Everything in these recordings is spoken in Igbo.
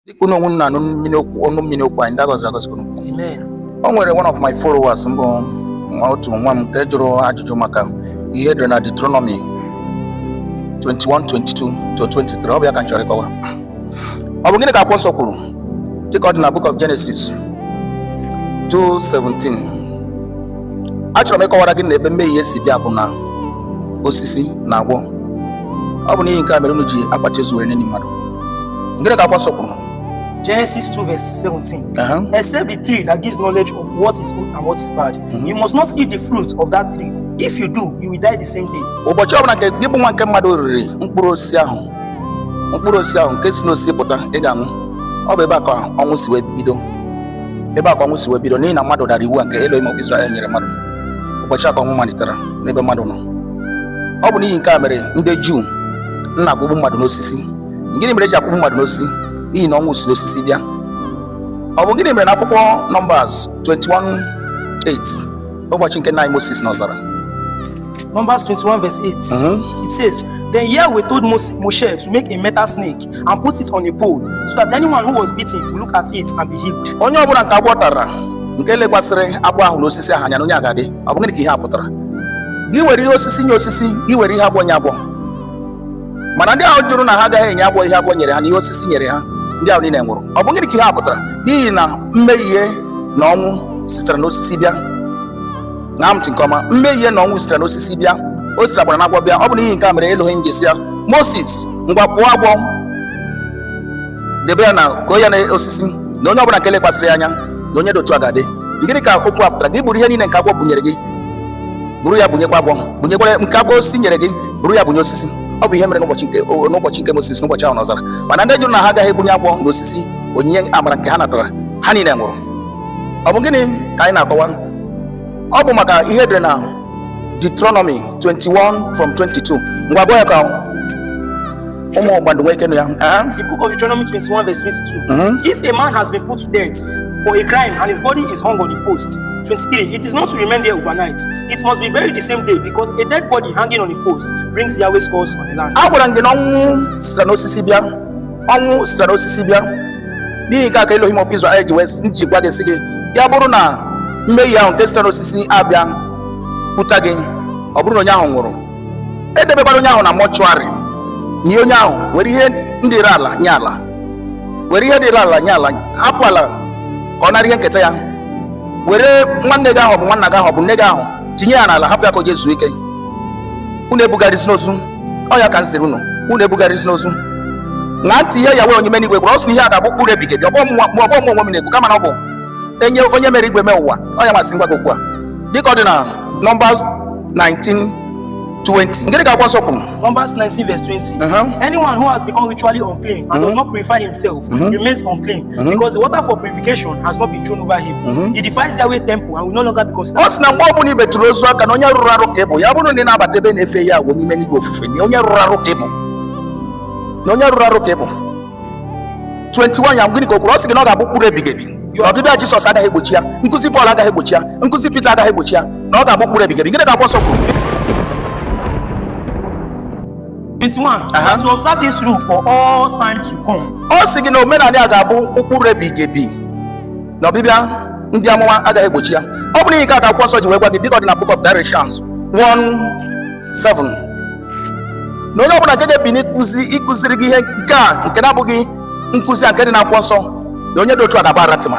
dịka unu nọ wee na-anụ mmiri okwu ọnụ mmiri okwu anyị ndị agọziri agọzi unu Amen. o nwere one of my followers m bụ nwa otu nwa m nke jụrụ ajụjụ maka ihe edere na Deuteronomy 21:22 to 23 ọ bụ ya ka m chọrọ ịkọwa ọ bụ gịnị ka akwụkwọ nsọ kwuru dịka ọ dị na book of Genesis 2:17 achọrọ m ịkọwara gị na ebe mmehie si bịa bụ na osisi na agwọ ọ bụ n'ihi nke a mere unu ji akpachi ozu were na-eni mmadụ gịnị ka akwụkwọ nsọ kwuru Genesis 2 verse 17. Uh -huh. Except the tree that gives knowledge of what is good and what is bad, mm -hmm. you must not eat the fruit of that tree. If you do, you will die the same day. Ụbọchị ọbụla nke gị bụ nwa nke mmadụ riri mkpụrụ osisi ahụ mkpụrụ osisi ahụ nke si n'osisi pụta ị ga-anwụ ọ bụ ebe a ka ọnwụ si wee bido ebe a ka ọnwụ si wee bido n'ihi na mmadụ dara iwu a nke Elohim of Israel nyere mmadụ ụbọchị a ka ọnwụ malitere n'ebe mmadụ nọ ọ bụ n'ihi nke a mere ndị Juu na-akwụgbu mmadụ n'osisi gịnị mere eji akwụgbu mmadụ n'osisi n'ihi na ọnwụ si n'osisi bịa ọ bụ gịnị mere na akwụkwọ Numbers 21:8 ụbọchị nke nna anyị Moses n'ọzara Numbers 21, verse 8. Mhm. It says, Then Yahweh told Mos- Moshe to make a metal snake and put it on a pole so that anyone who was bitten will look at it and be healed. Onye ọbụla nke agwọ tara nke lekwasịrị agwọ ahụ na osisi ahụ anya na onye a ga-adị ọ bụ gịnị ka ihe a pụtara gị were ihe osisi nye osisi gị were ihe agwọ nye agwọ mana ndị ahụ jụrụ na ha agaghị enye agwọ ihe agwọ nyere ha na ihe osisi nyere ha ndị ahụ niile nwụrụ ọ bụ gịnị ka ihe a pụtara n'ihi na mmehie na ọnwụ sitere n'osisi bịa na ntị nke ọma mmehie na ọnwụ sitere n'osisi bịa o sitekwara n'agwọ bịa ọ bụ n'ihi nke a mere Elohim ji sị ya Moses ngwa kpụọ agwọ debe ya na koo ya na osisi na onye ọbụla nke lekwasịrị ya anya na onye dị otu a ga-adị gịnị ka okwu a pụtara gị buru ihe niile nke agwọ bunyere gị buru ya bunyekwa agwọ bunyekwara nke agwọ osisi nyere gị buru ya bunye osisi ọ bụ ihe mere n'ụbọchị nke o- n'ụbọchị nke Moses n'ụbọchị ahụ n'ọzara mana ndị jụrụ na ha agaghị ebunye agwọ na osisi onyinye amara nke ha natara ha niile nwụrụ ọ bụ gịnị ka anyị na-akọwa ọ bụ maka ihe dị na Deuteronomy 21 from 22 ngwa gụọ ya ka ụmụ ọgbandụ nwee ike nụ ya Aha. The book of Deuteronomy 21, verse 22. Mhm. If a man has been put to death for a crime and his body is hung on a post, 23. It is not to remain there overnight. It must be buried the same day because a dead body hanging on a post brings Yahweh's curse on the land. agwara m gị na ọnwụ sitere n'osisi bịa ọnwụ sitere n'osisi bịa n'ihi nke a ka Elohim of Israel ji wee ji gwa gị sị gị ya bụrụ na mmehie ahụ nke sitere n'osisi abịakwuta gị ọ bụrụ na onye ahụ nwụrụ edebekwara onye ahụ na mortuary nie onye ahụ were ihe ndị dịrị ala nye ala were ihe dịrị ala nye ala hapụ ala ka ọ nara ihe nketa ya were nwanne gị ahụ ọ bụ nwanna gị ahụ ọ bụ nne gị ahụ tinye ya n'ala hapụ ya ka o je zuo ike unu ebugharịzina ozu ọ ya ka m sịrị unu unu ebugharịzina ozu ṅa ntị ihe Yahweh onye mere enigwe kwuru ọ sị na ihe a ga-abụ ụkpụrụ ebighị ebi ọ bụghị mụ onwe m na-ekwu kama na ọ bụ onye mere igwe mee ụwa ọ ya nwa sị m gwa gị okwu a dịka ọ dị na Numbers 19 20 ngịrị ka akwụkwọ nsọ kwuru Numbers 19, verse 20. Uh-huh. Anyone who has become ritually unclean and does not purify himself remains unclean. Mhm. because the water for purification has not been thrown over him. Mhm. He defies Yahweh temple and will no longer be considered. ọ sị na mgbe ọ bụla i betụrụ ozu aka na onye rụrụ arụ ka ị bụ ya bụrụ na ị na-abata ebe na-efe Yahweh onye mere enigwe ofufe na onye rụrụ arụ ka ị bụ na onye rụrụ arụ ka ị bụ 21 ya gịnị ka o kwuru ọ sị gị na ọ ga-abụ ụkpụrụ ebighị ebi na ọbịbịa Jisọs agaghị egbochi ya nkụzi Pọl agaghị egbochi ya nkụzi Pita agaghị egbochi ya na ọ ga-abụ ụkpụrụ ebighị ebi gịnị ka akwụkwọ nsọ kwuru 21. Aha. And to observe this rule for all time to come. ọ sị gị na omenala a ga-abụ ụkpụrụ ebighị ebi na ọbịbịa ndị amụma agaghị egbochi ya ọ bụ n'ihi nke a ka akwụkwọ nsọ ji wee gwa gị dịka ọ dị na book of Galatians 1:7 na onye ọbụla nke ga-ebini ịkụziri gị ihe nke a nke na-abụghị nkụzi a nke dị na akwụkwọ nsọ na onye dị otu a ga-abụ anathema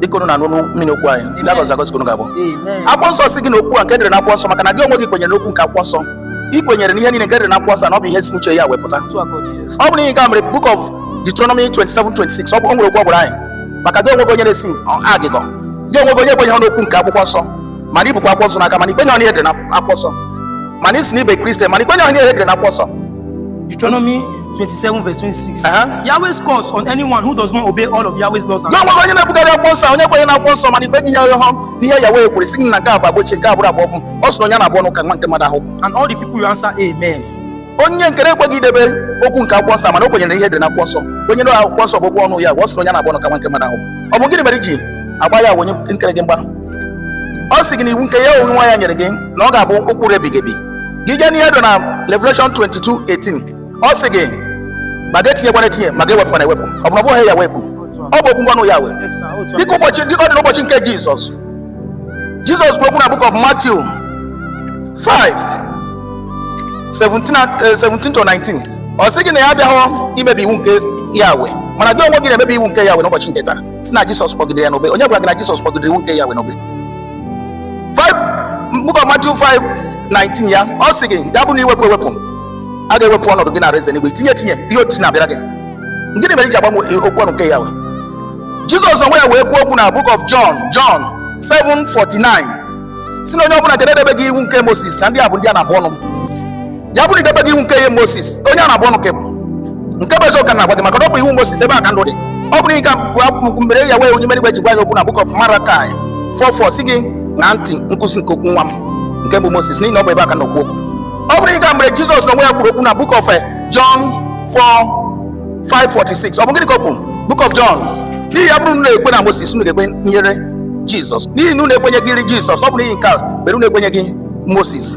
dịka unu na-anụ mmiri okwu anyị ndị agọzi agọzi unu ga-abụ akwụkwọ nsọ sị gị na okwu a nke dịrị na akwụkwọ nsọ maka na gị onwe gị kwenyere n'okwu nke akwụkwọ nsọ ị kwenyere n'ihe niile nke dịrị na akwụkwọ nsọ na ọ bụ ihe si n'uche Yahweh pụta ọ bụ n'ihi nke a mere book of Deuteronomy 27 26 ọ bụ o nwere okwu ọ gwara anyị maka gị onwe gị onye na-esi agụgọ gị onwe gị onye kwenyeghị n'okwu nke akwụkwọ nsọ mana i bukwa akwụkwọ nsọ n'aka mana i kwenyeghị n'ihe dị na akwụkwọ nsọ mana ị sị na ị bụ kristian mana i kwenyeghị n'ihe dị na akwụkwọ nsọ Deuteronomy 27 verse 26. Uh-huh. Yahweh's curse on anyone who does not obey all of Yahweh's laws and gị onwe gị onye na-ebugharị akwụkwọ nsọ onye kwenye na akwụkwọ nsọ mana i kwenyeghị n'ihe Yahweh kwuru sị na nke a bụ agba ochie nke a bụrụ agba ọfụụ ọ sị na onye a na-abụ ọnụ ka nwa nke mmadụ ahụ and all the people will answer amen. onye nke na-ekweghị idebe okwu nke akwụkwọ nsọ mana o kwenyere ihe dị na akwụkwọ nsọ kwenye na akwụkwọ nsọ bụ okwu ọnụ Yahweh ọ sị na onye a na-abụ ọnụ ka nwa nke mmadụ ahụ ọ bụ gịnị mere i ji agba Yahweh onye kere gị mgba ọ sị gị na iwu nke ya onwe ya nyere gị na ọ ga-abụ ụkpụrụ ebighị ebi gị jee n'ihe dị na Revelation 22:18 ọ sị gị ma gị etinyekwana etinye ma gị ewepụkwana ewepụ ọ bụ na ọ bụ ihe Yahweh kwuru ọ bụ okwu nke ọnụ Yahweh dịka ọ dị n'ụbọchị nke Jizọs Jizọs kwuru okwu na book of Matthew 5 17 17 to 19 ọ sị gị na ya abịaghọ imebi iwu nke Yahweh mana gị onwe gị na-emebi iwu nke Yahweh n'ụbọchị nke taa sị na Jizọs kpọgidere ya n'obe onye gwara gị na Jizọs kpọgidere iwu nke Yahweh n'obe book of Matthew 5:19 ya ọ sị gị ga-abụ na ị wepụ ewepụ a ga-ewepụ ọnọdụ gị na alaeze enigwe tinye etinye ihe otiti na-abịara gị gịnị mere i ji agbanwe e, okwu ọnụ nke Yahweh Jizọs onwe ya wee kwuo okwu na Book of John John 7:49 sị na onye ọbụla nke na-edebeghị iwu nke Moses na ndị a bụ ndị a na-abụ ọnụ ya bụrụ idebeghị iwu nke ihe Moses onye a na-abụ ọnụ ka bụ nke bụ eziokwu na-agwa gị maka na ọ bụ iwu Moses ebe a ka ndụ dị ọ bụrụ ịga bụ mere Yahweh onye mere igwe ji gwa ya okwu na Book of Malachi 4:4 sị gị ṅaa ntị nkụzi nke okwu nwa m nke bụ Moses n'ihi na ọ bụ ebe a ka na okwu okwu ọ bụrụ ịga mere Jizọs na onwe ya kwuru okwu na Book of eh, John 4, 5:46 ọ bụ gịnị ka o kwuru Book of John n'ihi ya bụrụ na ekwe na Moses unu ga-ekwenyere Jizọs n'ihi na unu ekwenyeghịrị Jizọs ọ bụ n'ihi nke a mere unu ekwenyeghị Moses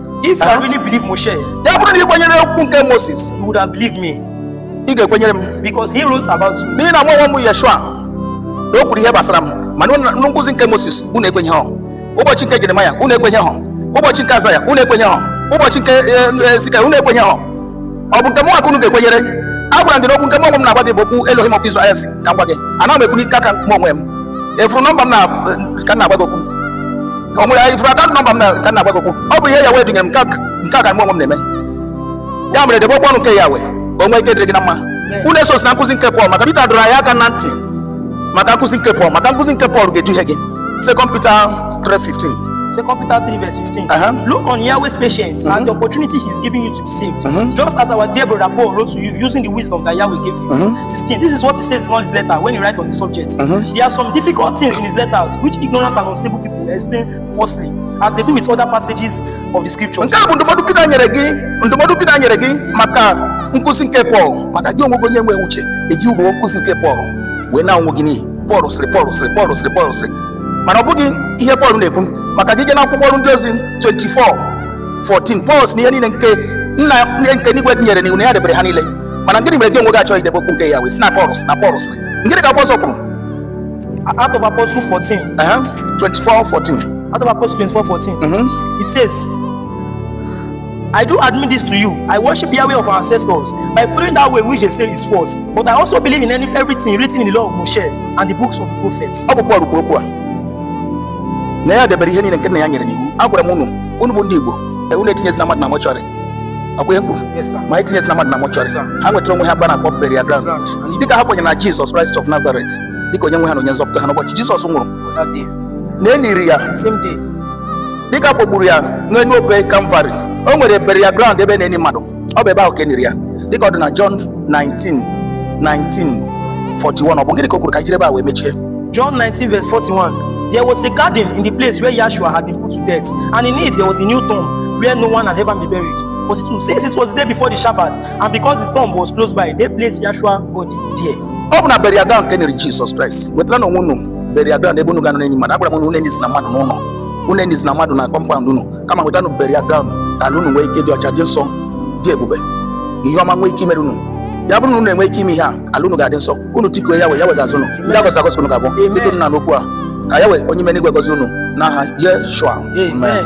If you really believe Moshe, ya bụrụ na ị kwenyere okwu nke Moses, you would have believed me. Ị ga-ekwenyere m. Because he wrote about me. N'ihi na mụ onwe m bụ Yeshua, na o kwuru ihe gbasara m, mana nkụzi nke Moses unu ekwenyehọ. Ụbọchị nke Jeremaya unu ekwenyehọ. Ụbọchị nke Azaya unu ekwenyehọ. Ụbọchị nke Ezika eh, eh, unu ekwenyehọ. ọ bụ nke mụnwa ka unu ga-ekwenyere agwara m gị na okwu nke mụ onwe m na-agwa gị bụ okwu Elohim of Israel si ka m gwa gị ana m ekwu n'ike aka m onwe m ị fụrụ nọmba m na ka m na-agwa gị okwu o nwere ị fụrụ akaụntụ nọmba m na ka m na-agwa gị okwu ọ bụ ihe Yahweh dunyere m nke a- nke a ka mụ onwe m na-eme ya mere debe okwu ọnụ nke Yahweh ka o nwee ike dịrị gị na mma unu esozina nkụzi nke Pọl maka Pita dọrọ anyị aka na ntị maka nkụzi nke Pọl maka nkụzi nke Pọl ga-eduhie gị Second Peter 3:15 Second Peter 3, verse 15. Uh-huh. Look on Yahweh's patience as the opportunity he's giving you to be saved. Mhm. Just as our dear brother Paul wrote to you using the wisdom that Yahweh gave him. Mhm. 16. This is what he says in all his letter when he writes on the subject. Mhm. There are some difficult things in his letters which ignorant and unstable people explain falsely, as they do with other passages of the scriptures. nke a bụ ndụmọdụ Pita nyere gị ndụmọdụ Pita nyere gị maka nkụzi nke Pọl maka gị onwe gị onye nwe uche ejirigo nkụzi nke Pọl wee naa onwe gị n'iyi Pọl sịrị Pọl sịrị Pọl sịrị Pọl sịrị mana ọ bụghị ihe Pọl na-ekwu maka gị gaa na akwụkwọ ọrụ ndị ozi 24 14 Pọl si na ihe niile nke nna anyị nke n'igwe nyere n'iwu na ya debere ha niile mana gịnị mere gị onwe gị achọghị idebe okwu nke Yahweh sị na Pọl na Pọl sịrị ngịnị ka Pọl kwuru Act of Apostles 14 24 14 Act of Apostles 24 14 mm -hmm. it says I do admit this to you. I worship Yahweh of our ancestors by following that way which they say is false. But I also believe in any, everything written in the law of Moshe and the books of the prophets. Ọ bụ Pọl kwuru okwu a na ya debere ihe niile nke nna ya nyere n'iwu. Agwara m unu unu bụ ndị Igbo e, unu etinyezina mmadụ na mortuary ọkwa ihe m kwuru ma etinyezina mmadụ na mortuary ha nwetara onwe ha ebe a na-akpọ burial ground dịka ha kwenyere na Jizọs Kraịst of Nazareth dịka onye nwe ha na onye nzọpụta ha n'ụbọchị Jizọs nwụrụ na e liri ya dịka a kpọgburu ya n'elu obe Kalvarị o nwere burial ground ebe a na-eni mmadụ ọ bụ ebe ahụ ka e niri ya dịka ọ dị na John 19 19 41 ọ bụ gịnị ka o kwuru ka anyị jiri ebe a wee mechie John 19, verse 41. There was a garden in the place where Yahshua had been put to death, and in it there was a new tomb where no one had ever been buried. 42. Since it was the day before the Shabbat, and because the tomb was close by, they placed Yahshua's body there. ọ bụ na burial ground ka e niri Jizọs Kraịst wetaranụ onwe unu burial ground ebe unu ga-anọ na-eni mmadụ agwara m unu unu enizina mmadụ n'ụlọ unu enizina mmadụ na kọmpaụnd unu kama wetanụ burial ground ka ala unu nwee ike dị ọcha dị nsọ dị ebube ihe ọma nwee ike imere unu ya bụrụ na unu enwee ike ime ihe a ala unu ga-adị nsọ unu tikuo Yahweh Yahweh ga-aza unu ndị agọzi agọzi unu ga-abụ dịka unu na-anụ okwu a ka Yahweh onye ime n'igwe gọzie unu n'aha Yeshua Amen.